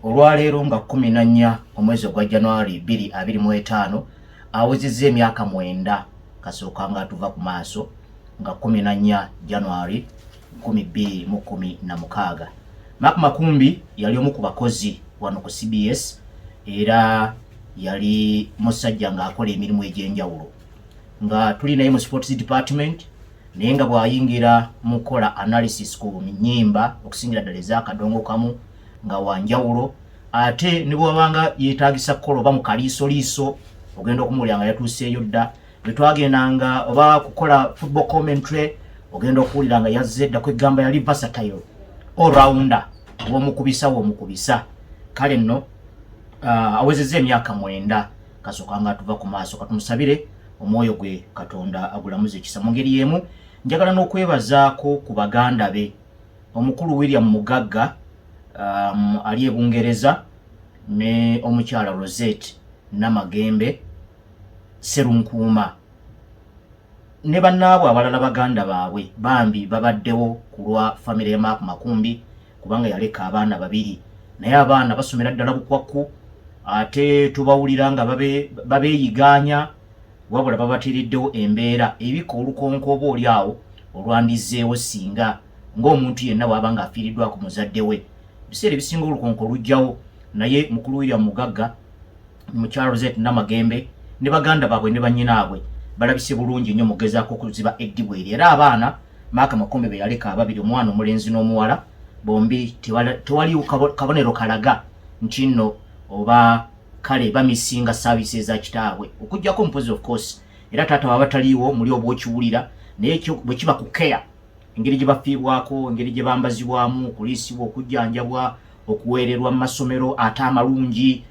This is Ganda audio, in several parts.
olwaleero nga 14 omwezi ogwa january 225 awezezza emyaka mwenda kasooka nga atuva ku maaso nga 14 january 2016 mak makumbi yali omu ku bakozi wano ku cbs era yali musajja ng'akola emirimu egy'enjawulo nga tuli naye mu sports department naye nga bw'ayingira mu kukola analysis ku nyimba okusingira ddala ez'akadongo kamu nga wanjawulo ate ne bwewabanga yeetagisa kukola oba mu kaliisoliiso ogenda okumuwulira nga yatuuseeyo dda bwe twagendanga oba kukola football commentary ogenda okuwulira nga yazze dda kwegamba yali vasatayo allrounder womukubisa womukubisa kale nno uh, awezeza emyaka mwenda kasoka nga tuva ku maaso katumusabire omwoyo gwe katonda agulamuza ekisa mu ngeri emu njagala n'okwebazaako ku baganda be Omukulu William Mugagga um, ali e Bungereza ne omukyala Rosette Namagembe Serunkuuma ne bannaabwe abalala baganda baabwe bambi babaddewo ku lwa famire ya Mark Makumbi kubanga yaleka abaana babiri naye abaana basomera ddala bukwakku ate tubawulira nga babeeyigaanya wabula babateereddewo embeera ebika olukonko oba oli awo olwandizzeewo singa ng'omuntu yenna bw'aba ng'afiiriddwako muzadde we ebiseera ebisinga olukonko lujjawo naye mukulu william mugagga mukyala roset namagembe ne baganda baabwe ne bannyinaabwe balabise bulungi nnyo mugezaako okuziba eddibu eri era abaana maaka makombe be yaleka ababiri omwana omulenzi n'omuwala bombi tewali kabonero kalaga nti nno oba kale bamisinga service eza kitaabwe okujjako mpozi of course era taata waba taliiwo muli oba okiwulira naye bwe kiba ku care engeri gye bafiibwako engeri gye bambazibwamu okuliisibwa okujjanjabwa okuweererwa mu masomero ate amalungi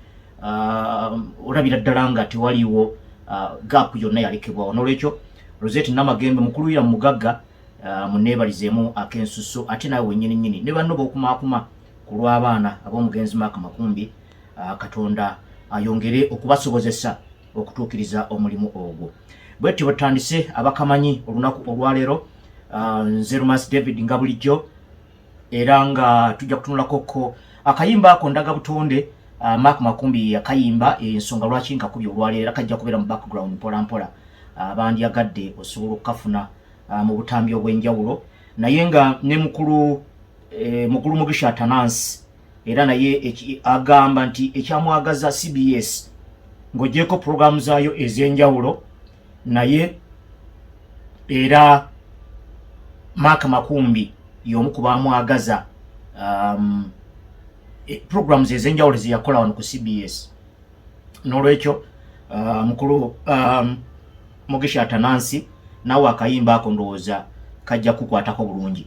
uh, olabira ddala nga tewaliiwo uh, gaapu yonna yalekebwawo n'olwekyo rosette namagembe mukuluyira mu mugagga uh, muneebalizeemu ak'ensusu ate naawe wennyini nnyini ne banno b'okumaakuma ku lw'abaana ab'omugenzi maaka makumbi Ah, katonda ayongere okubasobozesa okutuukiriza omulimu ogwo bwetyo bwetutandise abakamanyi olunaku olwaleero ah, nze rumas david nga bulijjo era nga tujja kutunulakoko akayimba ako ndaga butonde ah, mark makumbi yakayimba ensonga lwaki nkakubi olwaleero era kajja kubeera mu background mpola mpola bandyagadde osobola okukafuna mu butambi obw'enjawulo naye nga ne mukulu eh, mukulu mugisha tanansi era naye agamba nti ekyamwagaza cbs ng'ogyeko pulogulaamu zaayo ez'enjawulo naye era maaka makumbi y'omu ku baamwagaza um, e, pulogulaamu ze ez'enjawulo zeyakola wano ku cbs n'olwekyo uh, mukulu um, mugisha atanansi naawe akayimba ako ndowooza kajja kukwatako bulungi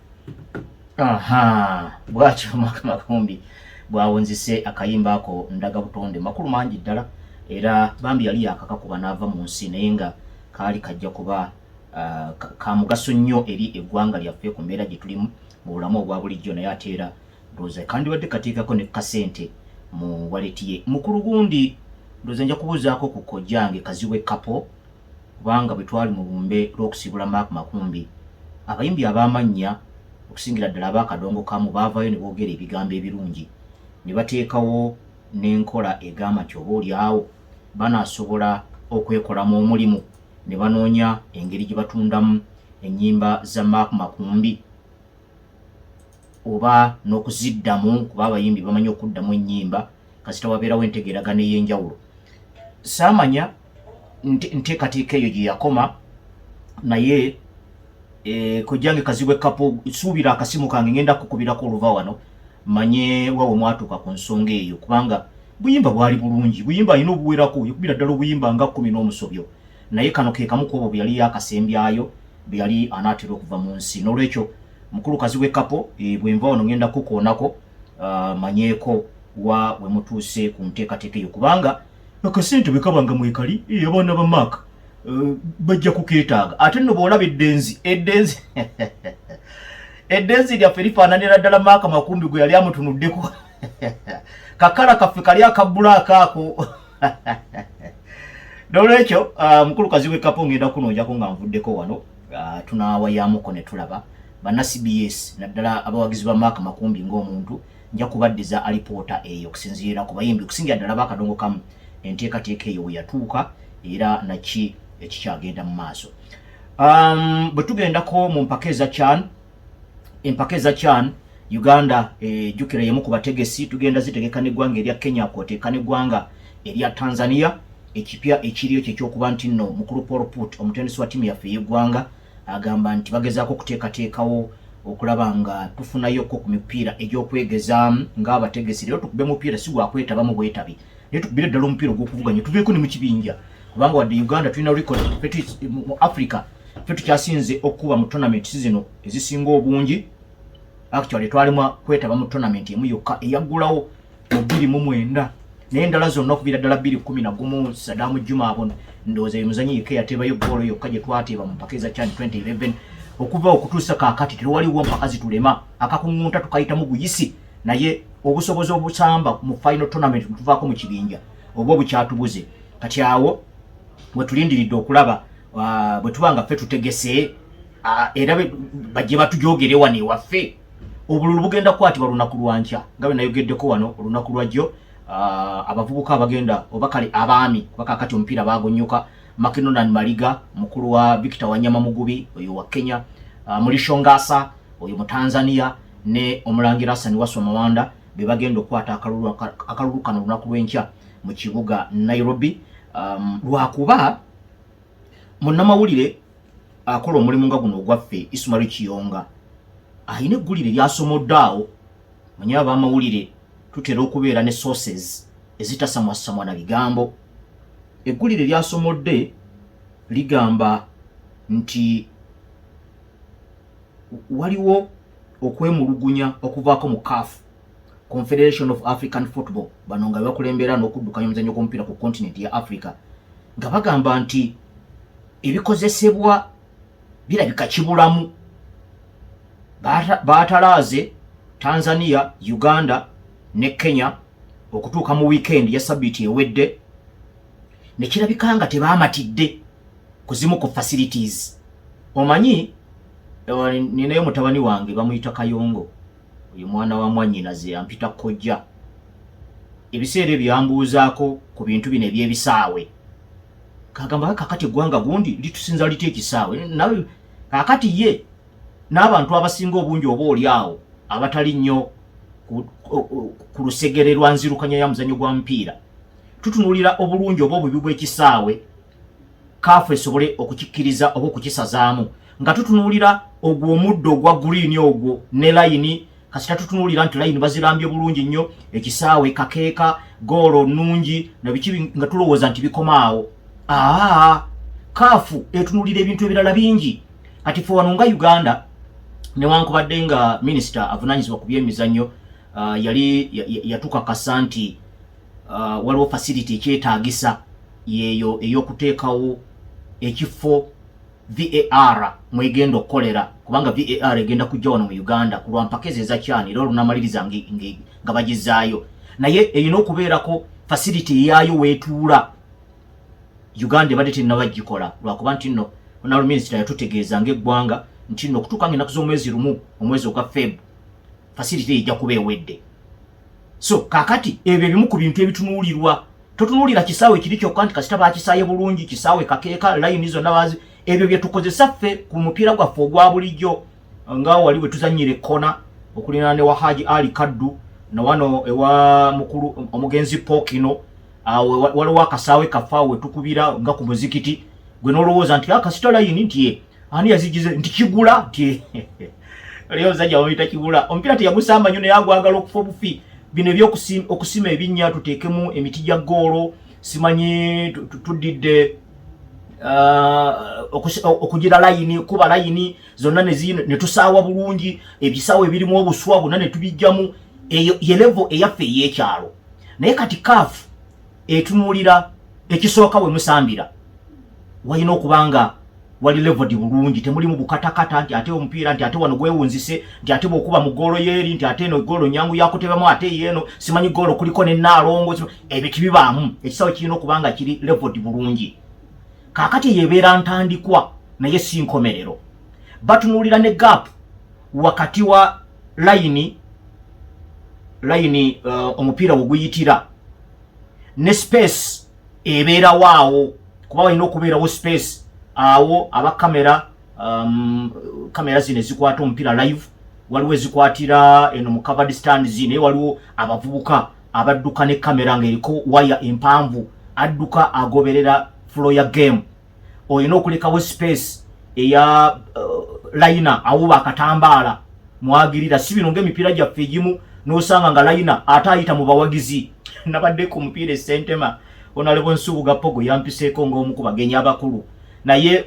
aha bwatyo Mark Makumbi bwawunzise akayimba ako ndaga butonde makulu mangi ddala era bambi yali yakakakuba n'ava mu nsi naye nga kaali kajja kuba uh, ka mugaso nnyo eri eggwanga lyaffe ku mbeera gye tulimu mu bulamu obwa bulijjo naye ate era ndowooza kandibadde kateekako ne kasente mu waleti ye mukulu gundi ndowooza nja kubuuzaako ku kojjange kazibwe kapo kubanga bwe twali mu lumbe lw'okusiibula Mark Makumbi, abayimbi ab'amannya okusingira ddala aba Kadongokamu baavaayo ne boogera ebigambo ebirungi ne bateekawo n'enkola egamba nti oba olyawo banaasobola okwekolamu omulimu ne banoonya engeri gye batundamu ennyimba za Mark Makumbi oba n'okuziddamu kuba abayimbi bamanyi okuddamu ennyimba kasita wabeerawo entegeeragana ey'enjawulo saamanya nteekateeka eyo gye yakoma naye eh, kojjange kazibwe kapo suubira akasimu kange ngenda kukubirako oluva wano manye wawe mwatuuka ku nsonga eyo kubanga buyimba bwali bulungi buyimba alina obuwerako yekubira ddala obuyimba nga kumi n'omusobyo naye kano ke kamu kwobwo bwe yali yakasembyayo bwe yali anaatera okuva mu nsi n'olwekyo mukulu kazibwe kapo eh, bwe nva wano ngenda kukoonako ah, manyeeko wa we mutuuse ku nteekateeka eyo kubanga akasente bwe kaba nga mwekali eh, abaana ba maaka eh, bajja kukeetaaga ate nno bw'olaba eddenzi eddenzi eddenzi lyaffe lifaananira ddala maaka makumbi gwe yali amutunuddeko kakala kaffe kali akabbulaako ako nolwekyo ah, mukulu kazi wekapo ngenda kunonjako nga nvuddeko wano ah, tunawayamuko netulaba banna cbs naddala abawagizi ba maaka makumbi ngaomuntu nja kubaddiza alipoota eyo okusinziira ku bayimbi okusingira ddala bakadongo kamu enteekateeka eyo we yatuuka era naki ekikyagenda mu maaso um, bwe tugendako mu mpaka eza can empaka eza can uganda ejjukira eh, yemu ku bategesi tugenda zitegeka n'eggwanga erya kenya kwoteeka n'eggwanga erya tanzania ekipya ekiriyo kyekyokuba nti nno mukulu paul put omutendesi wa tiimu yaffe ey'eggwanga Agamba nti bagezaako okuteekateekawo okulaba nga tufunayokko ku mipiira egy'okwegezaamu ng'abategesi leero tukube mupiira si gwa kwetabamu bwetabi naye tukubire ddala omupiira ogw'okuvuganya tuveeko ne mu kibinja kubanga wadde uganda tulina record mu africa fe tukyasinze okukuba mu tournament zino ezisinga obungi actually twalimu kwetaba mu tournament emu yokka eyaggulawo mu bbiri mu mwenda naye endala zonna okuviira ddala bbiri kumi na gumu sadamu juma abo ndowooza ye muzanyi yekka eyateebayo goolo yokka gye twateeba mu mpaka eza chan 2011 okuva okutuusa kaakati tewaliwo mpaka zitulema akakuŋŋunta tukayitamu buyisi naye obusobozi obusamba mu final tournament tuvaako mu kibinja oba obukyatubuze kati awo wetulindiridde okulaba uh, bwe tuba nga ffe tutegese uh, era bajje batujogere wano ewaffe obululu bugenda kukwatibwa lunaku lwa nkya nga bwe nayogeddeko wano olunaku lwajjo ah, abavubuka abagenda oba kale abaami kuba kakati omupiira baagunnyuka makinonan maliga mukulu wa victor wanyama mugubi oyo wa kenya ah, mulishongasa oyo mu tanzania ne omulangira asani waswa mawanda be bagenda okukwata akalulu kano olunaku lw'enkya mu kibuga nairobi um, lwakuba munnamawulire akola omulimu nga guno ogwaffe Ismail Kiyonga alina eggulire lyasomodde awo manya abamawulire tutera okubeera ne sources ezitasamwasamwa na bigambo eggulire lyasomodde ligamba nti waliwo okwemulugunya okuvaako mu CAF Confederation of African Football bano nga bakulembera n'okuddukanya omuzannyo gw'omupiira ku kontinenti ya Africa nga bagamba nti ebikozesebwa birabika kibulamu baatalaaze tanzania uganda ne kenya okutuuka mu wiikendi ya sabiiti ewedde ne kirabika nga tebaamatidde ku zimu ku facilities omanyi eh, ninayo mutabani wange bamuyita kayongo Oyo mwana wa mwannyinaze ampita kkojja. Ebiseera ebyo yambuuzaako ku bintu bino eby'ebisaawe. Ng'agamba nga kaakati eggwanga gundi litusinza litya ekisaawe? Nawe kaakati ye n'abantu abasinga obungi oba oli awo abatali nnyo ku lusegere lwa nzirukanya ya muzannyo gwa mupiira tutunuulira obulungi oba obubi bw'ekisaawe kaafu esobole okukikkiriza oba okukisazaamu nga tutunuulira ogwo omuddo ogwa guliini ogwo ne layini kasita tutunuulira nti layini bazirambye bulungi nnyo ekisaawe kakeeka goolo nnungi nabiki nga tulowooza nti bikoma awo aa kaafu etunuulira ebintu ebirala bingi kati fe wano nga uganda newankubadde nga minisita avunanyizibwa ku byemizannyo uh, yali yatukakasa nti uh, waliwo facility ekyetaagisa yeeyo ey'okuteekawo ekifo var mwegenda okukolera kubanga var egenda kujja wano mu uganda ku lwampaka ezo ezakyani era olunamaliriza nga bagizaayo naye erina okubeerako facility eyaayo weetuula uganda ebadde tennaba gikola lwakuba nti nno honorable minister yatutegeeza ng'eggwanga nti nno okutuuka nga ennaku z'omwezi lumu omwezi ogwa feb facility ejja kuba ewedde so kakati ebyo ebimu ku bintu ebitunuulirwa totunuulira kisaawe kiri kyokka nti kasita bakisaaye bulungi kisaawe kakeeka layini zonna bazi ebyo bye tukozesa ffe ku mupiira gwaffe ogwa bulijjo nga wali bwe tuzannyira ekkona okulina ne wa haji ali kaddu na wano ewa mukulu omugenzi pokino waliwo akasaawe kaffe awo wetukubira nga ku muzikiti gwe n'olowooza nti akasita ah, layini nti ye Ani yazigize nti kigula nti leo zaja wamita kigula. Ompira teyagusamba nyo ne yagwagala okufa obufi. Bino ebyo okusima okusima ebinya tutekemu emiti gya golo simanyi tudidde uh, okugira layini kuba layini zonna ne tusaawa bulungi ebisawo ebirimu obuswa bonna ne tubijjamu eyo ye levo eyaffe ey'ekyalo naye kati kaafu etunulira ekisooka we musambira walina okuba nga wali levodi bulungi temulimu bukatakata nti ate omupiira nti ate wano gwewunzise nti ate bwokuba mu goolo yeeri nti ate eno goolo nyangu yakutebamu ate yeeno simanyi goolo kuliko ne naalongo ebyo tibibaamu ekisawe kirina okuba nga kiri levodi bulungi kaakati eyo ebeera ntandikwa naye si nkomerero batunuulira ne gap wakati wa layini layini uh, omupiira weguyitira ne space ebeerawo awo kuba walina okubeerawo space awo aba kamera um, kamera zino ezikwata omupiira live waliwo ezikwatira eno mu covered stands naye waliwo abavubuka abadduka ne kamera ng'eriko waya empanvu adduka agoberera flow ya game olina okulekawo space eya uh, layina awuba akatambaala mwagirira si bino ngaemipiira gyaffe egimu nosanga nga layina ate ayita mu bawagizi nabadde ku mupiira esentema onalebo nsubuga pogo yampiseeko ngaomu ku bagenyi abakulu naye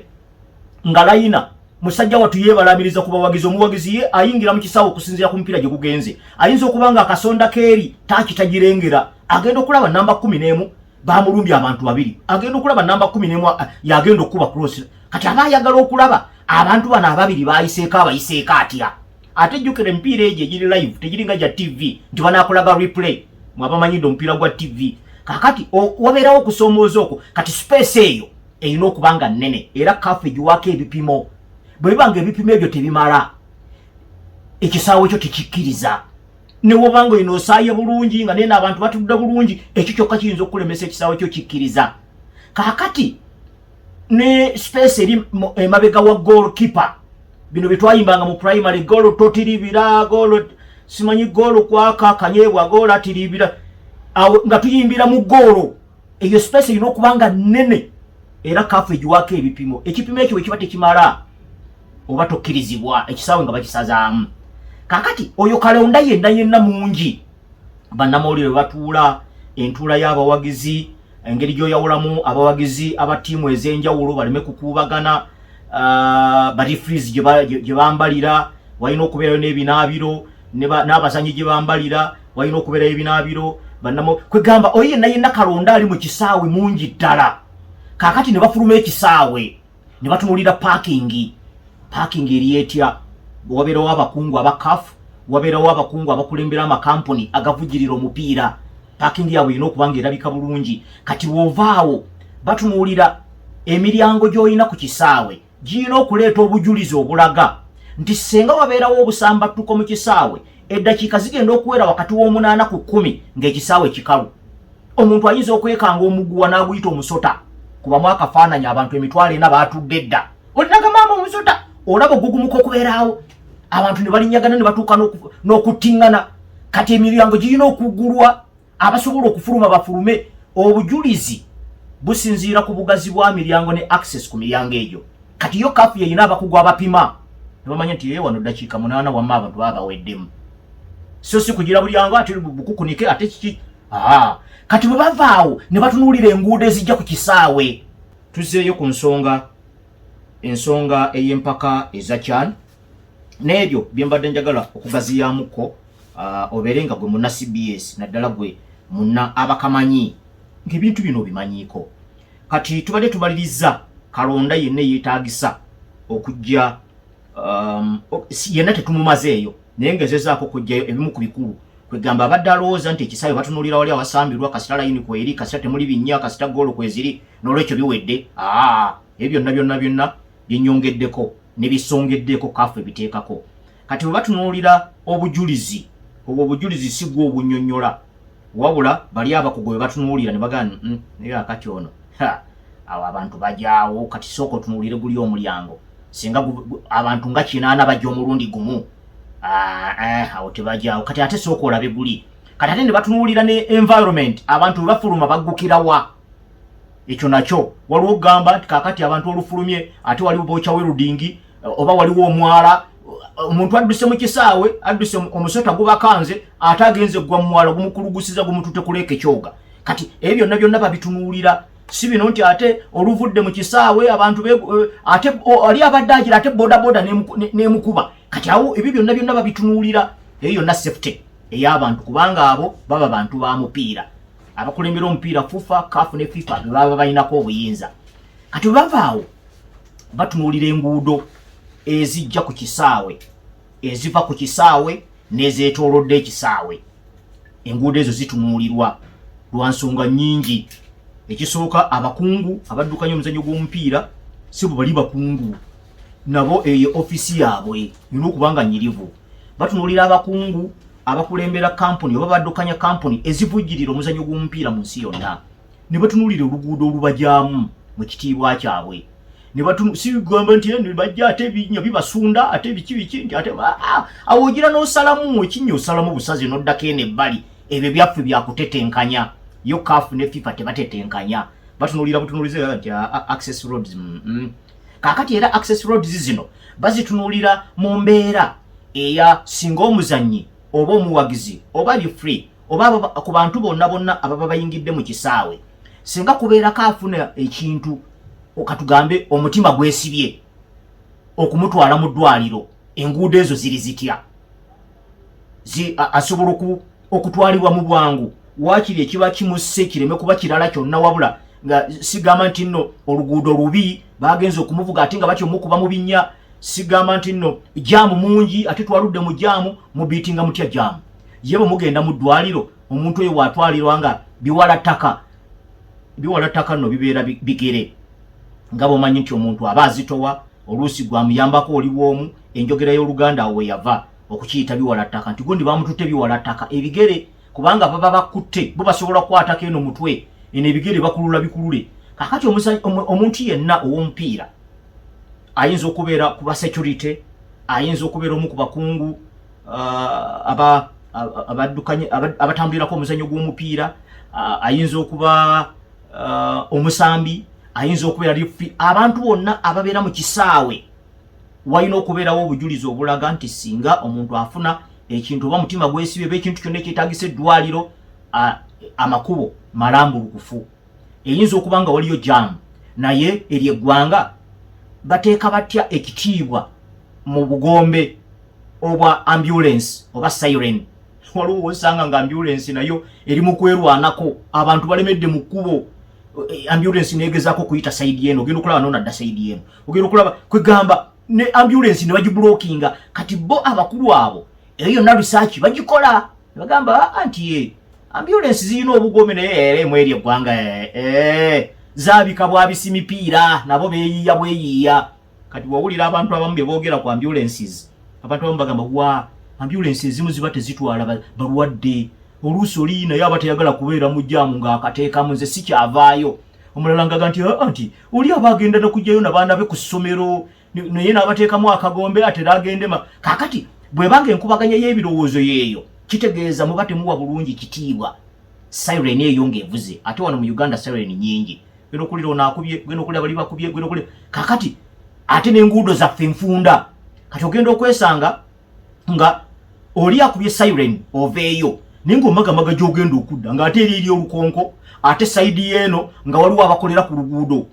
nga layina musajja watu yebalabiriza ku bawagizi omuwagizi ye ayingira mu kisawo okusinzira ku mupiira gye gugenze ayinza okuba nga akasonda keeri takitagirengera agenda okulaba namba kumi n'emu bamulumbye abantu babiri agenda okulaba namba kumi nemu eh, yagenda okukuba cross kati aba ayagala okulaba abantu bano ababiri bayiseeko abayiseeko atya ate jjukira emipiira egyo egiri live tegiringa gya tv nti banakulaga replay mwabamanyidde omupiira gwa tv kakati wabeerawo okusoomooza okwo kati space eyo erina okuba nga nnene era kafu egiwaako ebipimo bwe biba nga ebipimo ebyo tebimala ekisaawo ekyo tekikkiriza newoba nga olina osaaye bulungi nga nena abantu batudde bulungi ekyo kyokka kiyinza okukulemesa ekisaawe kyo kikkiriza kakati ne space eri emabega wa goal keeper bino byetwayimbanga mu primary goolo totiribira goolo simanyi goolo kwaka kanyebwa goolo atiribira awo nga tuyimbira mu goolo eyo space erina okuba nga nnene era kaafu egiwaako ebipimo ekipimo ekyo bwe kiba tekimala oba tokkirizibwa ekisaawe nga bakisazaamu kakati oyo kalonda yenna yenna mungi bannamawulire bwe batuula entuula y'abawagizi engeri gy'oyawulamu abawagizi aba ttiimu ez'enjawulo baleme kukuubagana ah, barifriz gye bambalira walina okubeerayo n'ebinaabiro n'abazanyi gye bambalira walina okubeerayo ebinaabiro banamo kwegamba oyo yenna yenna kalonda ali mu kisaawe mungi ddala kaakati ne bafuluma ekisaawe ne batunuulira paakingi paakingi eri etya wabeerawo abakungu aba kafu wabeerawo abakungu abakulembera amakampuni agavujirira omupiira paakingi yaabwe erina okuba nga erabika bulungi kati woovaawo batunuulira emiryango gy'olina ku kisaawe girina okuleeta obujulizi obulaga nti ssenga wabeerawo obusambattuko mu kisaawe eddakiika zigenda okuwera wakati w'omunaana ku kkumi ng'ekisaawe kikalu omuntu ayinza okwekanga omuguwa n'aguyita omusota kubamu akafaananyi abantu emitwalo ena baatudde dda olinaga maama omusota olaba ogugumuka okubeeraawo abantu ne balinyagana ne batuuka n'okuttingana kati emiryango girina okugulwa abasobola okufuluma bafulume obujulizi businziira ku bugazi bwa miryango ne access ku miryango egyo kati yo kafu yeyina abakugu abapima nebamanya nti yeye wano dakiika munaana wamma abantu baba baweddemu so si kugira bulyango ate bukukunike ate kiki aa kati bwe bavaawo ne batunuulira enguudo ezijja ku kisaawe tuzeeyo ku nsonga ensonga ey'empaka eza kyani n'ebyo bye mbadde njagala okugaziyaamuko uh, obeere nga gwe munna cbs naddala gwe munna abakamanyi ng'ebintu bino obimanyiiko kati tubadde tumaliriza kalonda yenna eyeetaagisa okujja um, yenna tetumumazeeyo naye ngezezaako okujjayo ebimu ku bikulu kwegamba abadde alowooza nti ekisaawe batunulira wali awasambirwa kasita layini kweri kasita temuli binnya kasita goolo kweziri n'olwekyo biwedde aa ebyo byonna byonna byonna binyongeddeko ne bisongeddeeko kafu ebiteekako kati bwe batunuulira obujulizi obwo obujulizi si gwe obunyonyola wabula bali abakugu bwe batunuulira ne bagana mm, naye akati ono awo abantu bajaawo kati sooka otunuulire guli omulyango singa abantu nga kinaana bajja omulundi gumu ah, eh, awo tebajaawo kati ate sooka olabe guli kati ate ne batunuulira ne environment abantu bwe bafuluma baggukirawa ekyo nakyo waliwo okugamba nti kakati abantu olufulumye ate waliwo boca werudingi eh, oba waliwo omwala eh, omuntu adduse mu kisaawe adduse omusota gubakanze ate agenze gwa mumwala gumukulugusiza gumutute kuleeka ekyoga kati ebyo byonna byonna babitunuulira si bino nti ate oluvudde mu kisaawe abantu eh, ate ali abadde agira ate bodaboda nemukuba kati awo ebyo byonna byonna babitunuulira eyo yonna safety ey'abantu kubanga abo baba bantu ba mupiira abakulembera omupiira fufa kafu ne fifa bebaba balinako obuyinza kati bavaawo batunuulira enguudo ezijja ku kisaawe eziva ku kisaawe nezetolodde ekisaawe enguudo ezo zitunuulirwa lwa nsonga nyingi ekisooka abakungu abaddukanya omuzannyo gw'omupiira si bwe bali bakungu nabo eyo ofisi yaabwe yina okuba nga nyirivu batunuulira abakungu abakulembera kampuni oba baddukanya kampuni ezivujjirira omuzannyo gw'omupiira mu nsi yonna ne batunuulira oluguudo olubajaamu mu kitiibwa kyabwe sibigamba nti eh, bajja ate ebinya bibasunda ate biki biki nti ate ah, ah, awo ogira n'osalamu ekinya osalamu busazi n'oddako eno ebbali ebyo byaffe byakutetenkanya yo kaafu ne fifa tebatetenkanya batunuulira butunuulize nti ah, access roads mm, mm. kakati era access roads zino bazitunulira mu mbeera eya singa omuzannyi oba omuwagizi oba li free oba ku bantu bonna bonna ababa bayingidde mu kisaawe singa kubeerako afuna ekintu okatugambe omutima gwesibye okumutwala mu ddwaliro enguudo ezo ziri zitya asobola oku okutwalibwa mu bwangu waakiri ekiba kimusse kireme kuba kirala kyonna wabula nga sigamba nti nno oluguudo lubi bagenza okumuvuga ate nga batya omukuba mu binnya sigamba nti nno jaamu mungi ate twaludde mu jaamu mubiitinga mutya jaamu ye bwe mugenda mu ddwaliro omuntu oyo waatwalirwa nga biwala ttaka biwala ttaka nno bibeera bigere nga bwomanyi nti omuntu aba azitowa oluusi gwamuyambako oli bwomu enjogera y'oluganda awo weyava okukiyita biwala ttaka nti gundi bamututte biwala ttaka ebigere kubanga baba bakutte bo basobola okukwatako eno mutwe eno ebigere bakulula bikulule kakati omuntu yenna ow'omupiira ayinza okubeera ku ba security ayinza okubeera omu ku bakungu uh, aba abaddukanye abatambulirako omuzannyo gw'omupiira ayinza okuba omusambi ayinza okubeera lifi abantu bonna ababeera mu kisaawe walina okubeerawo obujulizi obulaga nti singa omuntu afuna ekintu oba mutima gwesibe oba ekintu kyonna ekyetagisa eddwaliro amakubo malambulukufu eyinza okuba nga waliyo jaamu naye eryo eggwanga bateeka batya ekitiibwa mu bugombe obwa ambulensi oba siren waliwo wosanga nga ambulensi nayo eri mu kwerwanako abantu balemedde mu kkubo eh, ambulensi negezaako okuyita saidi eno ogenda okulaba nonadda saidi eno ogera okulaba kwegamba ne ambulance ne bagibulokinga kati bo abakulu abo eyo yonna risaaki bagikola nebagamba anti ah, ye ambulance zirina obugome naye ere eh, mweri eggwanga eh, eh, zabika bwabisi mipiira nabo beyiiya bweyiiya kati wawulira abantu abamu beboogera ku ambulances abantu abamu bagamba wa ambulances zimu ziba tezitwala balwadde oluusi oli naye aba teyagala kubeera mu jaamu ng'akateekamu nze sikyavaayo omulala ngaga nti aa nti oli aba agenda nokujjayo nabaana be ku ssomero naye nabateekamu akagombe atera agendema kakati bwebanga enkubaganya y'ebirowoozo yeeyo kitegeeza muba temuwa bulungi kitiibwa siren eyo ng'evuze ate wano mu uganda siren nyingi genda okulira onaakubye genda okulira bali bakubye genda okulira kakati ate n'enguudo zaffe nfunda kati ogenda okwesanga nga oli akubye siren oveeyo naye ngaomagamaga gyogenda okudda ngaate eri eri olukonko ate saidi yeeno nga waliwo abakolera ku luguudo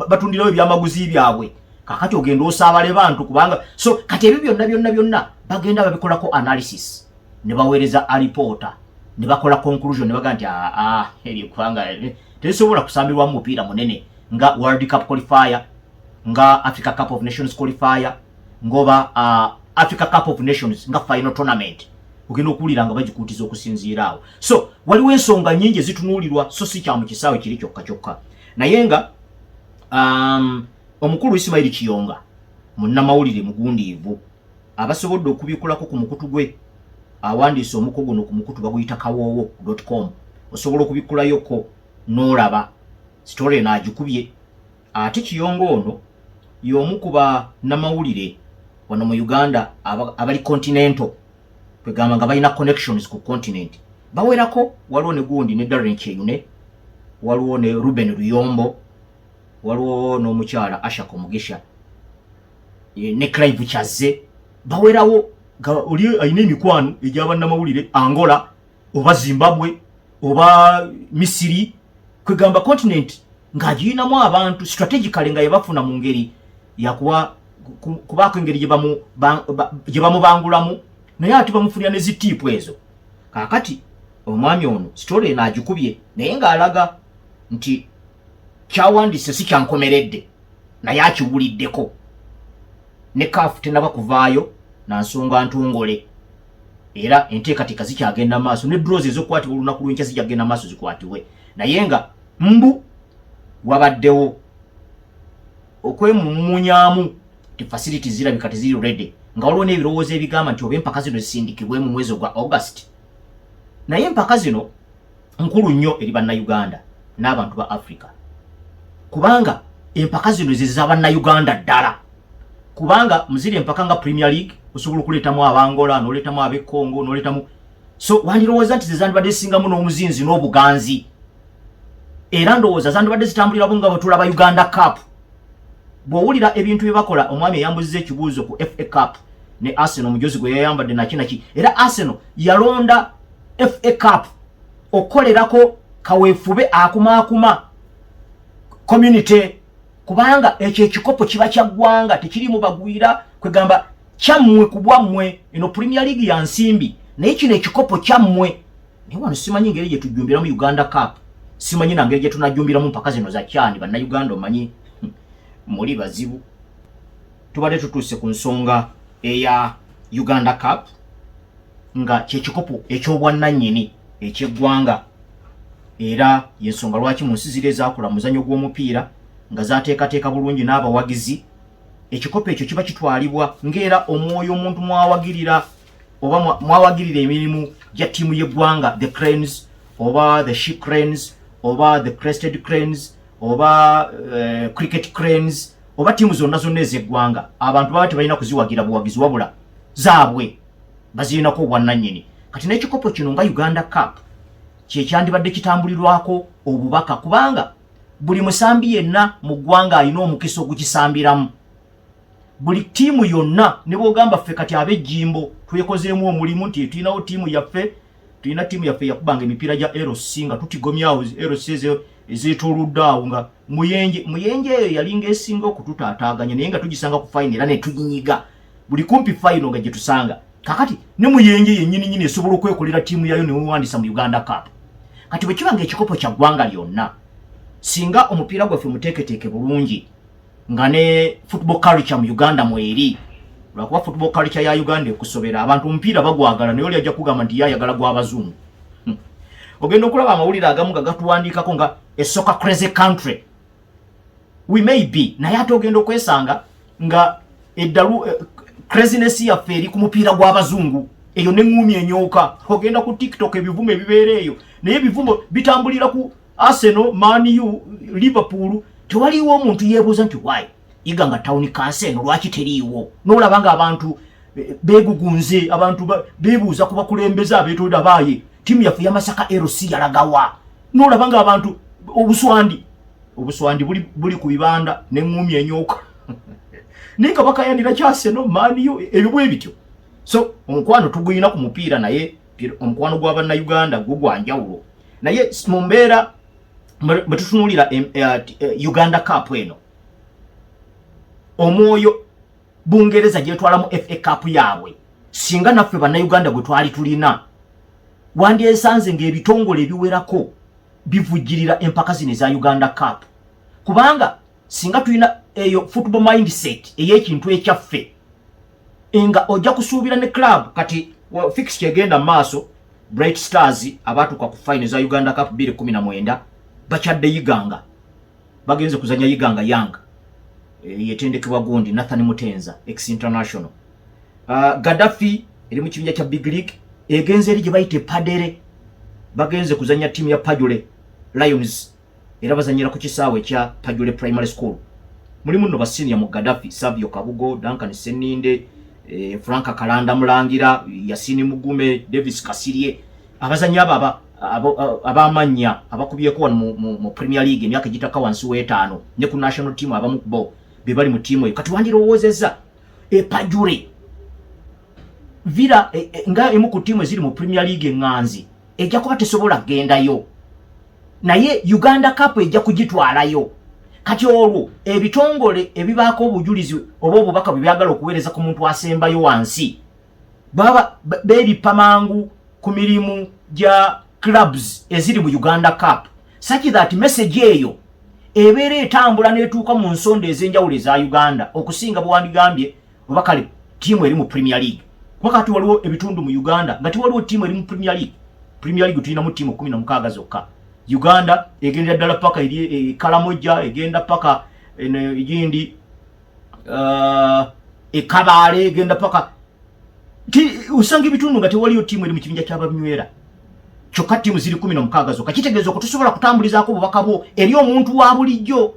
batundirawo ebyamaguzi byabwe kakati ogenda osaabale bantu kubanga so kati ebyo byonna byonna byonna bagenda babikolako analysis ne baweereza alipoota ne bakola conclusion ne baga nti aa ah, ah, eryo kubanga eh, terisobola kusambirwamu mupiira munene nga world cup qualifier nga Africa Cup of Nations qualifier ngoba uh, Africa Cup of Nations nga final tournament ogenda okuwulira nga bagikuutiza okusinziira awo so waliwo ensonga nyingi ezitunuulirwa so si kya mu kisaawe kiri kyokka kyokka naye nga um, omukulu Ismail Kiyonga munnamawulire mugundiivu abasobodde okubikulako ku mukutu gwe awandiise omuko guno ku mukutu baguyita kawoowo com osobola okubikulayoko n'olaba sitore naagikubye Ate Kiyonga ono y'omu ku bannamawulire wano mu Uganda abali continental kwegamba nga balina connections ku continent bawerako waliwo ne gundi ne Darren Kyeyune waliwo ne Ruben Luyombo waliwo n'omukyala Ashak Omugisha e, ne Clive Kyazze bawerawo oli alina emikwano egyabannamawulire Angola oba zimbabwe oba misiri kwegamba continent ng'agiyinamu abantu strategically nga yebafuna mu ngeri yakuwa kubaako engeri gye bamubangulamu naye ate bamufunira ne zitiipu ezo kaakati omwami ono sitole eno agikubye naye ng'alaga nti kyawandise si kyankomeredde naye akiwuliddeko ne kaafu tenaba kuvaayo na nsonga ntongole era enteekateeka zikyagenda maaso ne drozi ezokukwatibwa olunaku lwenkya zijja kugenda maaso zikwatibwe naye nga mbu wabaddewo okwemumunyamu ti facility zirabika teziri ready nga waliwo n'ebirowoozo ebigamba nti oba empaka zino zisindikibwe mu mwezi ogwa august naye empaka zino nkulu nnyo eri bannayuganda n'abantu ba africa kubanga empaka zino zeza bannayuganda ddala kubanga muziri empaka nga premier league osobola okuleetamu abangola noleetamu ab'e congo noleetamu so wandirowooza nti zezandibadde zisingamu n'omuzinzi n'obuganzi era ndowooza zandibadde zitambulira bunga bwetulaba uganda cup bwowulira ebintu byebakola omwami eyambuziza ekibuuzo ku fa cup ne arsenal omujozi gwe yayambadde nakinaki era arsenal yalonda fa cup okukolerako kaweefube akumaakuma community kubanga ekyo ekikopo kiba kya ggwanga tekirimu bagwira kwegamba kyammwe ku bwammwe eno premier league ya nsimbi naye kino ekikopo kyammwe naye wano simanyi ngeri gye tujjumbiramu uganda cup simanyi na ngeri gye tunajjumbiramu mpaka zino za kyani bannayuganda omanyi hmm, muli bazibu tubadde tutuuse ku nsonga eya uganda cup nga kyekikopo ekyobwannanyini ekyeggwanga era yensonga lwaki mu nsi ziri ezakula muzanyo gw'omupiira nga zateekateeka bulungi n'abawagizi ekikopo ekyo kiba kitwalibwa ngaera omwoyo omuntu mwawagirira oba mwawagirira emirimu gya ttiimu y'eggwanga the cranes oba the she cranes oba the crested cranes oba eh, cricket cranes oba tiimu zonna zonna ez'eggwanga abantu baba tebalina kuziwagira buwagizi wabula zaabwe bazirinako obwannannyini kati n'ekikopo kino nga uganda cup kyekyandibadde kitambulirwako obubaka kubanga buli musambi yenna mu ggwanga alina omukisa ogukisambiramu buli tiimu yonna ne bwogamba ffe kati ab'ejjimbo twekozeemu omulimu nti tulinawo tiimu yaffe tulina ttiimu yaffe yakubanga emipiira gya lc nga tutigomyawo lc ezo ezetoludde awo nga muyenje muyenje eyo yalinga esinga okututaataaganya naye nga tugisanga ku fayina era netunyiga buli kumpi fayino nga gyetusanga kakati ne muyenje yennyini nyini esobola okwekolera ttiimu yayo newewandisa mu uganda cup kati bwe kiba nga ekikopo kya ggwanga lyonna singa omupiira gwaffe muteeketeeke bulungi nga ne football culture mu Uganda mweri lwakuba football culture ya Uganda ekusobera abantu omupiira bagwagala naye oli ajja kugamba nti yayagala gwa bazungu hmm. ogenda okulaba amawulire agamu nga gatuwandiikako nga a soccer crazy country we may be naye ate ogenda okwesanga nga eddalu eh, craziness yaffe eri ku mupiira gw'abazungu eyo neŋŋumi enyooka ogenda ku tiktok ebivumo ebibeera eyo naye ebivumo bitambulira ku Arsenal, Man U, Liverpool tewaliwo omuntu yebuuza nti why iga nga town kansa eno lwaki teriiwo nolaba nga abantu eh, begugunze abantu bebuuza ku bakulembeze abetolda baaye tiimu yaffe yamasaka lc yalagawa nolaba nga abantu obuswandi obuswandi buli, buli ku bibanda neŋumi enyoka naye nga bakayanira kyaseno Man U ebyo bwe bityo so omukwano tuguyina ku mupiira naye omukwano gwa bannayuganda gwo gwa njawulo naye mu mbeera bwe tutunuulira eh, eh, uganda cup eno omwoyo bungereza gyetwala mu fa cup yaabwe singa naffe bannayuganda gwe twali tulina wandyesanze ng'ebitongole ebiwerako bivujjirira empaka zino eza uganda cup kubanga singa tulina eyo football mindset ey'ekintu ekyaffe nga ojja kusuubira ne club kati fix kyegenda maaso bright stars abaatuka ku fine za uganda cup 219 bakyadde yiganga bagenze kuzanya yiganga yang e, yetendekebwa gundi nathan mutenza ex international uh, gadafi eri mu kibinja kya big league egenze eri gye bayite padere bagenze kuzanya tiimu ya pajule lions era bazanyira ku kisaawe kya Tajule Primary School. Mulimu nno basiniya mu Gaddafi, Savio Kabugo, Duncan Seninde, eh, Frank Kalanda Mulangira, Yasini Mugume, Davis Kasirye, abazanyi abo aba abamannya abakubyeko wano mu, mu, mu Premier League emyaka egitaka wansi w'etaano ne ku national team abamu bo be bali mu tiimu eyo kati wandirowoozezza epajure vira e, e, nga emu ku tiimu eziri mu Premier League eŋŋanzi ejja kuba tesobola kugendayo naye uganda cup ejja kugitwalayo kati olwo ebitongole ebibaako obujulizi oba obubaka bwe byagala okuweereza ku muntu asembayo wansi baba beebippa mangu ku mirimu gya clubs eziri mu uganda cup saki that message eyo ebeera etambula n'etuuka mu nsonda ez'enjawulo eza uganda okusinga bwewandigambye oba kale tiimu eri mu premier league kuba kati waliwo ebitundu mu uganda nga tiwaliwo tiimu eri mu premier league premier league tulinamu tiimu kumi nomukaaga zokka uganda egendera ddala paka eri e, kalamojja egenda paka egindi uh, ekabaale egenda paka osanga ebitundu nga tewaliyo tiimu eri mu kibinja kyababinywera kyokka tiimu ziri kumi nomukaaga zokka kitegeeza okutusobola kutambulizaako obubaka bwo eri omuntu wa bulijjo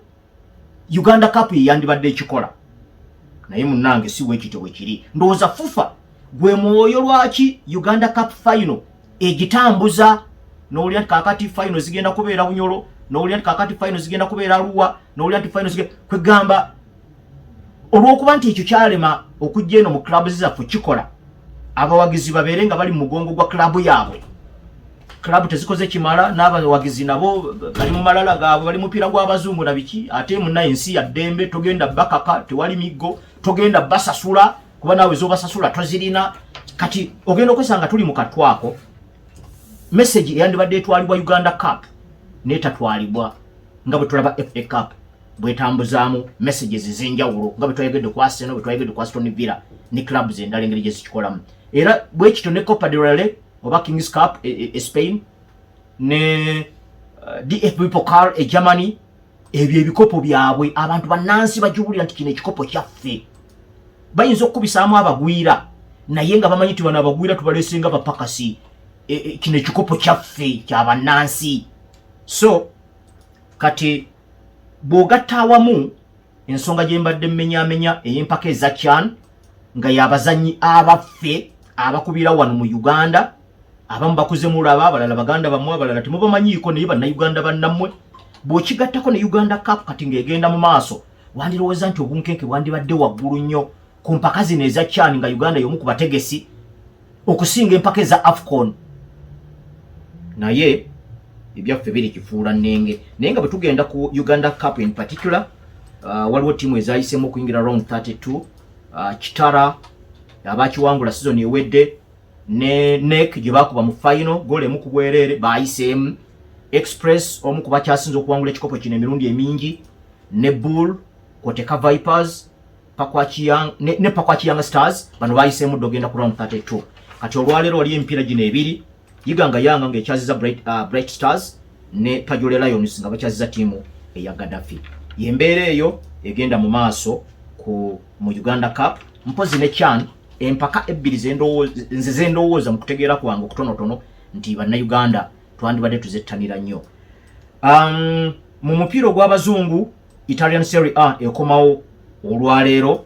uganda cup yeyandibadde ekikola naye munange si wekityo bwekiri ndowooza fufa gwe mwoyo lwaki uganda cup final egitambuza nowulira nti kakati final zigenda kubeera bunyolo nowulira nti kakati final zigenda kubeera luwa nowulira nti final zigenda kwegamba olwokuba nti ekyo kyalema okujja eno mu clubs zaffe kikola abawagizi babeere nga bali mu mugongo gwa club yaabwe club tezikoze kimala n'abawagizi nabo bali mu malala gaabwe bali mupiira gw'abazungu na biki ate muna ensi ya ddembe togenda bakaka tewali miggo togenda basasula kuba naawe zobasasula tozirina kati ogenda okwesanga tuli mu katwako message eyandibadde etwalibwa uganda cup netatwalibwa nga bwe tulaba fa cup bwetambuzaamu messages ez'enjawulo nga bwe twayogedde ku aseno bwe twayogedde ku aston villa ne clubs endala engeri gye zikikolamu era bwekityo ne copa de rale oba Kings Cup e, e, e Spain ne uh, DFB Pokal e Germany ebyo ebikopo byabwe abantu bannansi bajubulira nti kino ekikopo kyaffe bayinza okukubisaamu abagwira naye nga bamanyi ti bano abagwira tubalesinga bapakasi e, e, kino ekikopo kyaffe kya bannansi so kati bw'ogatta awamu ensonga gye mbadde mmenyamenya ey'empaka eza chan nga y'abazannyi abaffe abakubira wano mu uganda abamu bakuze mulaba abalala baganda bamwe abalala temubamanyiiko naye bannayuganda bannammwe bw'okigattako ne uganda cap kati ng'egenda mu maaso wandirowooza nti obunkenke bwandibadde waggulu nnyo ku mpaka zino eza chan nga uganda yomu ku bategesi okusinga empaka eza afcon naye ebyaffe biri kifuula nenge naye nga bwetugenda ku uganda cup in particular uh, waliwo tiimu ezayisemu okuyingira round 32 uh, kitara abakiwangula sizoni ewedde ne nek gye bakuba mu fayino goolo emu ku bwereere bayiseemu express omu ku bakyasinze okuwangula ekikopo kino emirundi emingi ne bull koteka vipers ne pakwaki young stars bano bayiseemu dda ogenda ku round 32 kati olwaleero waliyo emipiira gino ebiri yiga nga yanga ngaekyaziza bright, uh, bright stars ne pajole lions nga bakyaziza tiimu eya gadafi yembeera eyo egenda mu maaso ku mu uganda cup mpozi ne chan empaka ebbiri nze zendowooza mu kutegeera kwange okutonotono nti bannauganda twandibadde tuzettanira nnyo um, mu mupiira ogw'abazungu Italian Serie A ekomawo olwaleero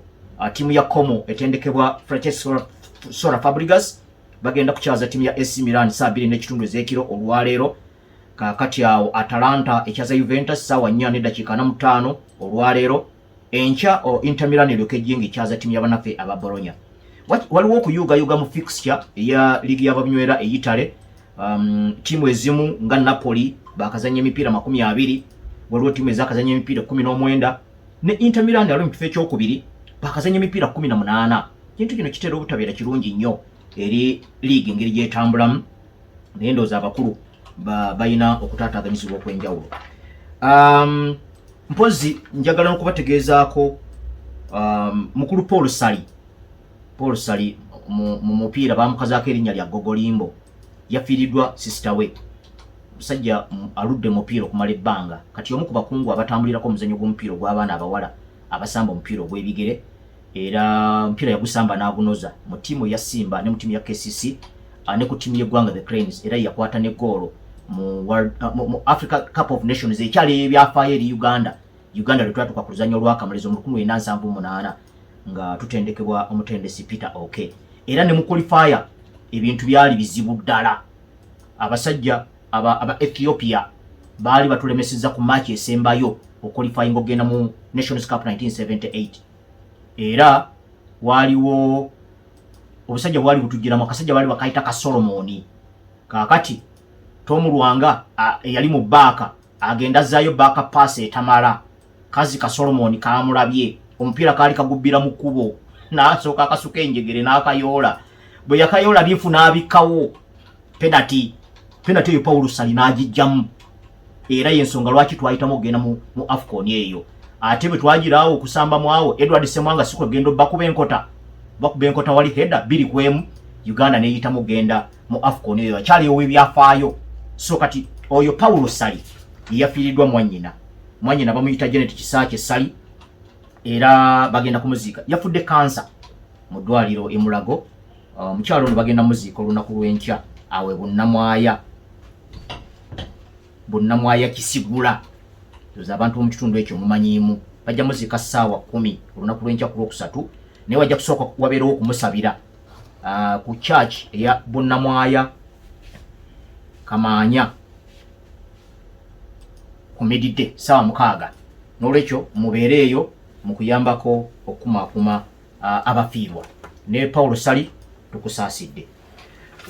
tiimu ya Como etendekebwa Francesco Sora Fabregas bagenda kukyaza tiimu ya AC Milan saa bbiri n'ekitundu ez'ekiro olwaleero kakati awo Atalanta ekyaza Juventus saawa nnya n'eddakiika na mutaano olwaleero enkya Inter Milan eryoka ejjinga ekyaza tiimu ya banaffe aba Bologna waliwo okuyuugayuuga mu fixture eya liigi y'ababinywera eyitale um, tiimu ezimu nga Napoli bakazanya emipiira makumi abiri waliwo tiimu ezakazanya emipiira kumi n'omwenda ne Inter Milan ali mu kifo ekyokubiri bakazanya emipiira kumi na munaana kintu kino kitera obutabeera kirungi nnyo eri liigi engeri gyetambulamu naye ndooza abakulu balina okutaataganyizibwa okwenjawulo um, mpozi njagala nokubategeezaako um, mukulu paul sali Paul Sali mu mupiira baamukazaako erinnya lya Gogolimbo. Yafiiriddwa sisita we. Omusajja aludde mupiira okumala ebbanga kati y'omu ku bakungu abatambulirako omuzannyo gw'omupiira ogw'abaana abawala abasamba omupiira ogw'ebigere era omupiira yagusamba n'agunoza mu ttiimu eya Simba ne mu ttiimu ya KCC ne ku ttiimu y'eggwanga the Cranes era yakwata ne goolo mu Africa Cup of Nations ekyali ebyafaayo eri Uganda Uganda lwe twatuuka ku luzannya olwakamalirizo mu lukumi lwenda nsanvu munaana nga tutendekebwa omutendesi Peter Oke okay. era ne mu qualifier ebintu byali bizibu ddala abasajja aba, aba Ethiopia baali batulemeseza ku match esembayo okulifayinga okugenda mu Nations Cup 1978 era waliwo obusajja bwali butujjiramu akasajja baali bakayita ka Solomoni kakati Tom Lwanga eyali mu baaka agenda zayo baaka pass etamala kazi ka solomoni kaamulabye omupiira kaali kagubbira mu kkubo n'asooka akasuka enjegere n'akayoola bwe yakayoola bifu n'abikkawo penati penati eyo pawulo sali n'agijjamu era y'ensonga lwaki twayitamu okugenda mu afcon eyo ate bwe twagiraawo okusamba mu awo edward semwanga si kwegenda obbakuba enkota bakuba enkota wali heda biri ku emu uganda neyitamu okugenda mu afcon eyo akyali ow'ebyafaayo so kati oyo pawulo sali eyafiiriddwa mwannyina mwanyina bamuyita Janet Kisaakye Ssali era bagenda kumuziika yafudde kansa mu ddwaliro e Mulago uh, omukyalo ono bagenda muziika olunaku lw'enkya awe bunnamwaya bunnamwaya kisigula oza abantu mu kitundu ekyo mumanyiimu bajja muziika ssaawa kumi olunaku lw'enkya ku lwokusatu naye wajja kusooka wabeerewo okumusabira uh, ku church eya bunnamwaya kamaanya ku mididde saawa mukaaga n'olwekyo mubeere eyo mu kuyambako okukumaakuma abafiirwa ne pawulo sali tukusaasidde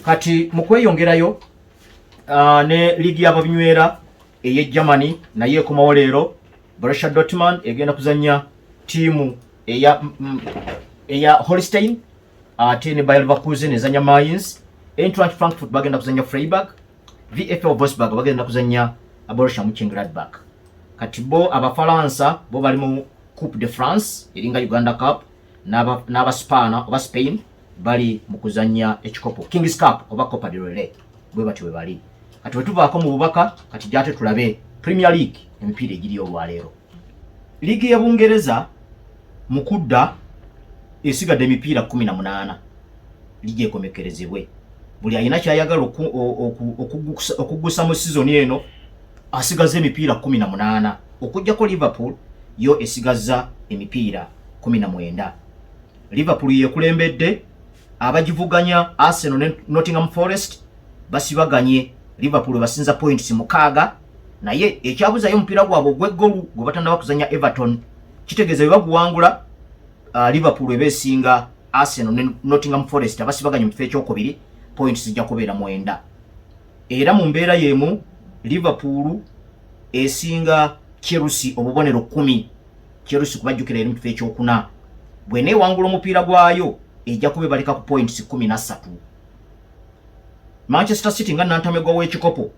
kati mu kweyongerayo ne liigi y'ababinywera ey'e germany naye ekomawo leero brussia dotman egenda kuzannya tiimu eya eya Holstein ate ne Bayer Leverkusen ezanya Mainz, Eintracht Frankfurt bagenda kuzanya Freiburg VfL Wolfsburg bagenda kuzannya Borussia Mönchengladbach. Kati bo Abafalansa bo bali mu Coupe de France eringa Uganda Cup n'aba Spaana oba Spain bali mu kuzannya ekikopo Kings Cup oba Copa del Rey bwe batyo bwe bali. Kati bwe tuvaako mu bubaka kati gyate tulabe Premier League emipiira egiri olwaleero. Liigi y'e Bungereza mu kudda esigadde emipiira kkumi na munaana liigi ekomekkerezebwe. Buli alina ky'ayagala okuggusa mu sizoni eno asigazza emipiira kkumi na munaana okuggyako Liverpool yo esigazza emipiira kkumi na mwenda. Liverpool yeekulembedde abagivuganya Arsenal ne Nottingham Forest basibaganye Liverpool basinza points mukaaga. naye ekyabuzayo omupiira gwabwe ogweggolu gwe batanaba kuzanya everton kitegeeza bwe baguwangula uh, liverpool eba esinga arsenal ne nottingham forest abasibaganye mu kifo ekyokubiri point zijja kubeera mwenda era mu mbeera yemu liverpool esinga chelsea obubonero kumi chelsea kubajjukira eri mu kifo ekyokuna bwena ewangula omupiira gwayo ejja kuba ebaleka ku points kumi na ssatu manchester city nga nantamegwa w'ekikopo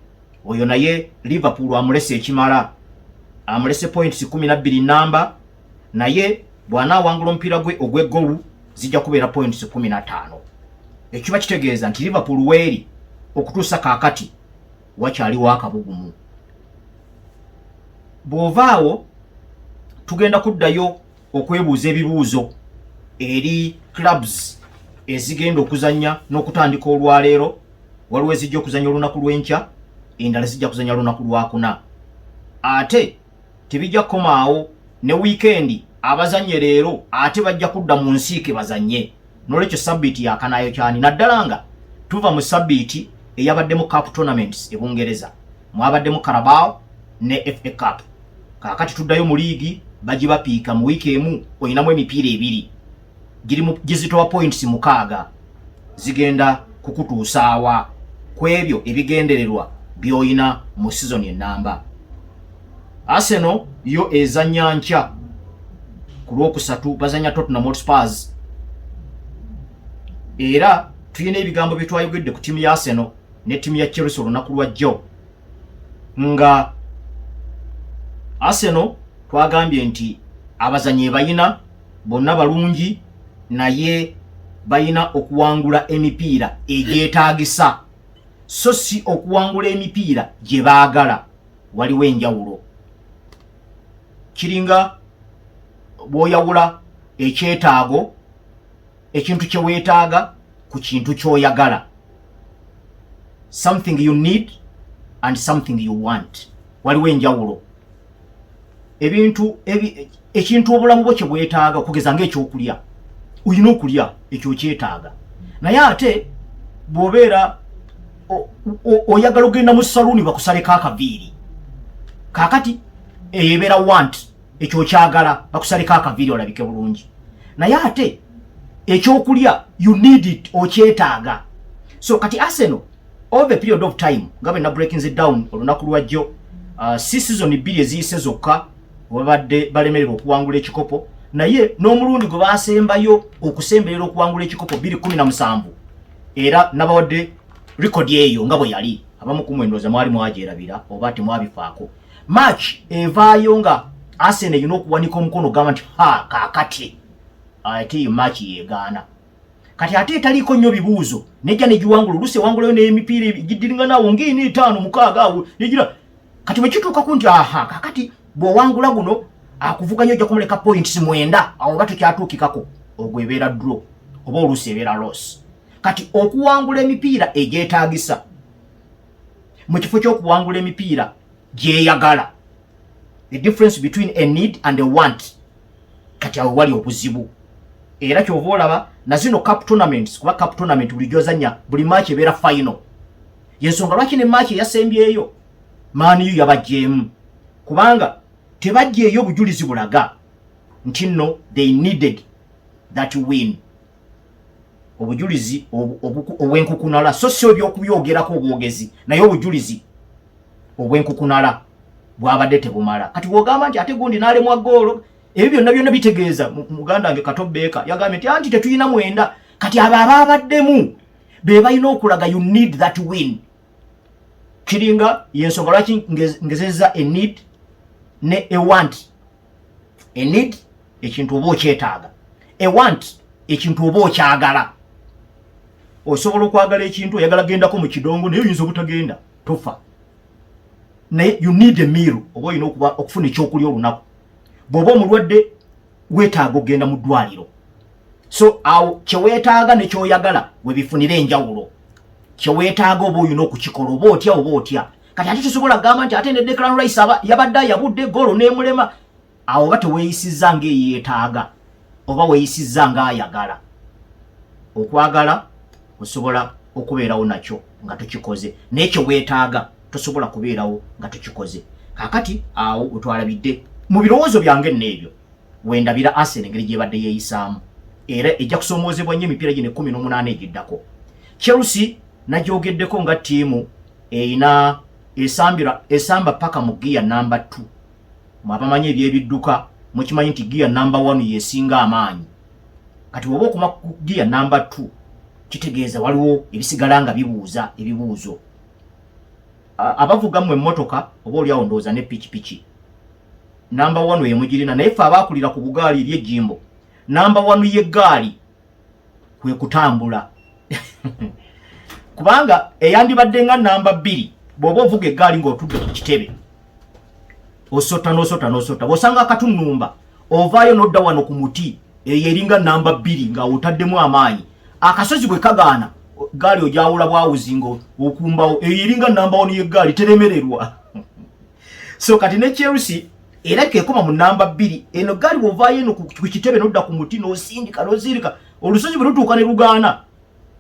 oyo naye Liverpool amulese ekimala, amulese points kumi na bbiri namba, naye bwana awangula omupiira gwe ogw'eggolu zijja kubeera points kumi na ttaano. Ekiba kitegeeza nti Liverpool weeri okutuusa kaakati wakyaliwo akabugumu. Bw'ovaawo tugenda kuddayo okwebuuza ebibuuzo eri clubs ezigenda okuzannya n'okutandika olwaleero waliwo ezijja okuzanya olunaku lw'enkya endala zijja kuzanya lunaku lwakuna ate tebijja kukomaawo ne wiikendi abazanye leero ate bajja kudda mu nsiike bazanye nolwekyo sabiiti yakanayo kyani naddala nga tuva mu sabiiti eyabaddemu cup tournaments e bungereza mwabaddemu carabao ne fa cup kakati tuddayo mu liigi bagibapiika mu wiiki emu olinamu emipiira ebiri gizitowa points mukaaga zigenda kukutuusaawa ku ebyo ebigendererwa by'olina mu sizoni ennamba Arsenal yo ezannya nkya ku lwokusatu bazannya Tottenham Hotspurs era tulina ebigambo bye twayogedde ku ttiimu ya Arsenal ne ttiimu ya Chelsea olunaku lwa jjo nga Arsenal twagambye nti abazanyi ebayina bonna balungi naye balina okuwangula emipiira egyetaagisa so si okuwangula emipiira gye baagala waliwo enjawulo kiringa bwoyawula ekyetaago ekintu kye weetaaga ku kintu ky'oyagala something you need and something you want waliwo enjawulo ebintu ekintu obulamu bwo kye bwetaaga okugeza ngaekyokulya olina okulya ekyo okyetaaga naye ate bwobeera oyagala ogenda mu saluuni bakusaleko akaviiri kakati eyo ebeera want ekyo okyagala bakusaleko akaviiri olabike bulungi naye ate ekyokulya you need it okyetaaga so kati arsenal all the period of time nga bena breakings down olunaku lwajjo uh, si sizoni bbiri eziyise zokka webabadde balemererwa okuwangula ekikopo naye n'omulundi gwe basembayo okusemberera okuwangula ekikopo bbiri kumi na musanvu era nabawadde rekodi eyo nga bwe yali abamu kumwendoza mwali mwagyerabira oba temwabifaako March evaayo nga Arsenal erina okuwanika omukono gamba nti ha kakati ate eyo March yegaana kati ate etaliiko nnyo bibuuzo nejja negiwangula olusi ewangulayo n'emipiira gidiringanaawo ngaina etaano mukaaga awo negira kati bwe kituukako nti aha kakati bw'owangula guno akuvuganya ojja kumuleka points mwenda awo oba tekyatuukikako ogwo ebeera dro oba oluusi ebeera loss kati okuwangula emipiira egyetaagisa mu kifo ky'okuwangula emipiira gyeyagala the difference between a need and a want kati awo wali obuzibu era kyova olaba na zino cup tournaments kuba cup tournament buli gyozanya buli match ebeera final yensonga lwaki ne match eyasembyeyo maaniyo yabajjeemu kubanga tebajjeeyo bujulizi bulaga nti nno they needed that win obujulizi obwenkukunala so si obyokubyogerako obwogezi naye obujulizi obwenkukunala bwabadde tebumala kati wogamba nti ate gundi nalemwa goolo ebyo byonna byonna bitegeeza muganda wange katobeeka yagambye nti anti tetulina mwenda kati abo abaabaddemu be balina okulaga you need that win kiringa yensonga lwaki ngezeza enid ne ewant a need ekintu oba okyetaaga a want ekintu oba okyagala osobola okwagala ekintu oyagala gendako mu kidongo naye oyinza obutagenda tofa naye you need a meal oba olina okuba okufuna ekyokulya olunaku bw'oba omulwadde weetaaga okugenda mu ddwaliro so awo kyeweetaaga ne kyoyagala webifunira enjawulo kyeweetaaga oba olina okukikola oba otya oba otya kati ate tusobola gamba nti ate ne declan rice aba yabadde ayabudde goolo nemulema awo oba teweyisiza ngaeyetaaga oba weyisiza ngaayagala okwagala osobola okubeerawo nakyo nga tukikoze naye kyewetaaga tosobola kubeerawo nga tukikoze kakati awo wetwalabidde mu birowoozo byange nno ebyo wendabira asen engeri gyebadde yeyisaamu era ejja kusoomoozebwa nnyo emipiira gino ekumi n'omunaana egiddako chelsea nagyogeddeko nga ttiimu eyina esambira esamba paka mu giya namba 2 mwabamanyi ebyebidduka mukimanyi nti giya namba 1 yesinga amaanyi kati woba okuma ku giya namba 2 kitegeeza waliwo ebisigala nga bibuuza ebibuuzo abavuga mu emmotoka oba oli awo ndowooza ne pikipiki namba 1 yemugirina naye fe abaakulira ku bugaali ebyejjimbo namba 1 yegaali kwe kutambula kubanga eyandibadde nga namba bbiri bw'oba ovuga eggaali ng'otudde ku kitebe osota n'osota n'osota bw'osanga akatunumba ovaayo n'odda wano ku muti eyo eringa namba bbiri nga otaddemu amaanyi akasozi bwe kagaana gaali ogyawula bwawuzi nga okumbawo eyo eringa namba wano y'eggaali teremererwa so kati ne Chelsea era kekoma mu namba bbiri eno gaali bwovaayo eno ku kitebe nodda ku muti nosindika nozirika olusozi bwe lutuuka ne lugaana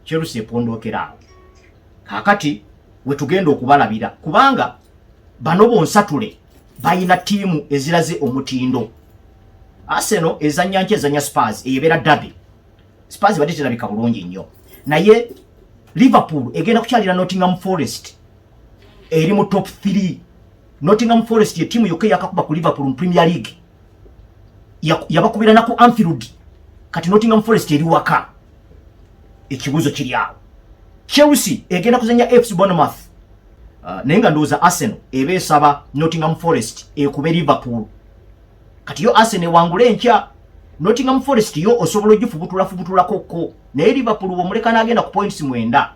Chelsea epondookera awo kakati wetugenda okubalabira kubanga bano bonsatule balina tiimu eziraze omutindo Arsenal ezannya nki ezannya Spurs eyebeera derby Spurs badde terabika bulungi nnyo naye Liverpool egenda kukyalira Nottingham Forest eri mu top 3 Nottingham Forest ye timu yokka yakakuba ku Liverpool mu Premier League yabakubira na ku Anfield kati Nottingham Forest eri waka ekibuzo kiri awo Chelsea egenda kuzanya FC Bournemouth uh, naye nga ndowooza Arsenal eba esaba Nottingham Forest ekube Liverpool kati yo Arsenal ewangule enkya Nottingham Forest yo osobola ogifubutula fubutulako ko naye Liverpool womuleka n'agenda ku points mwenda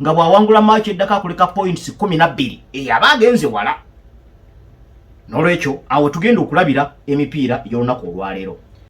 nga bw'awangula maaci eddako akuleka points kumi na bbiri eyo aba agenze wala n'olwekyo awo tugenda okulabira emipiira egy'olunaku olwaleero